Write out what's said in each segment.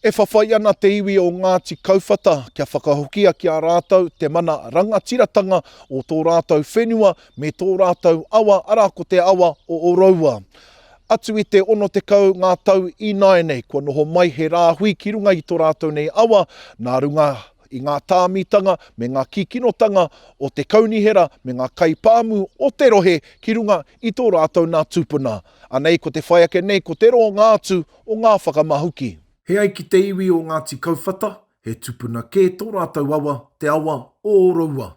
E whawhai ana te iwi o Ngāti Kauwhata kia whakahokia ki a rātou te mana rangatiratanga o tō rātou whenua me tō rātou awa, arā ko te awa o Oroua. Atu i te 60 ngā tau ināianei kua noho mai he rāhui ki runga i tō rātou nei awa nā runga i ngā tāmitanga me ngā kīkinotanga o te kaunihera me ngā kaipāmu o te rohe ki runga i tō rātou nā tūpuna. Anei ko te whai ake nei ko te roanga atu o ngā whakamahuki. He ai ki te iwi o Ngāti Kauwhata, he tupuna kē tō rātou awa, te awa o Oroua.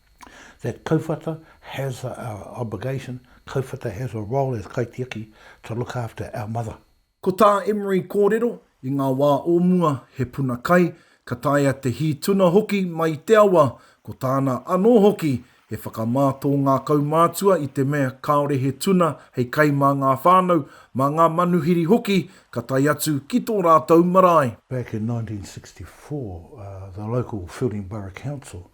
that kauwhata has a obligation, kauwhata has a role as kaitiaki to look after our mother. Ko tā Emery kōrero, i ngā wā o mua he puna kai, ka taea te hī tuna hoki mai i te awa, ko tāna anō hoki he whakamā tō ngā kaumātua i te mea kāore he tuna hei kai mā ngā whānau, mā ngā manuhiri hoki ka tae atu ki tō rātou marae. Back in 1964, the local Whilling Borough Council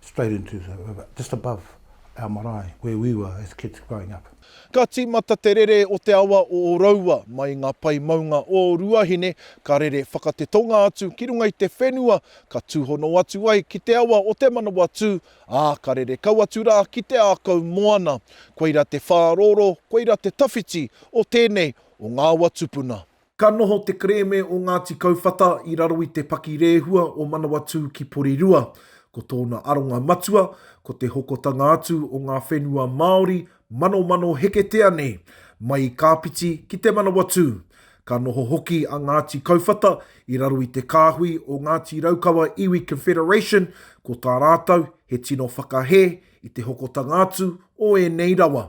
straight into the river, just above our marae where we were as kids growing up. Ka tīmata te rere o te awa o Oroua mai i ngā pae maunga o Ruahine, ka rere whakatetonga atu ki runga i te whenua, ka tūhono atu ai ki te awa o Te Manawatū, ā, ka rere kau atu rā ki te ākau moana. Koira te whārōrō, koira te tawhiti o tēnei o ngā awa tupuna. Ka noho te kerēme o Ngāti Kauwhata i raro i te pakirehua o Manawatū ki Porirua. Ko tōna aronga matua, ko te hokotanga atu o ngā whenua Māori manomano heketea nei, mai i Kāpiti ki Te Manawatū. Ka noho hoki a Ngāti Kauwhata i raro i te kāhui o Ngāti Raukawa Iwi Confederation, ko tā rātou he tino whakahē i te hokotanga atu o ēnei rawa.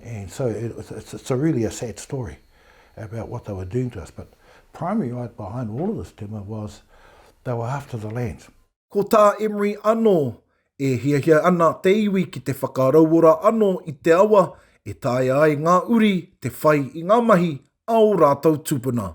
And so it's, it's, it's a really a sad story about what they were doing to us. But primary right behind all of this tema was they were after the land. Ko tā Emery anō, e hiahia ana te iwi ki te whakarauora anō i te awa e taea ai ngā uri te whai i ngā mahi a ō rātou tūpuna.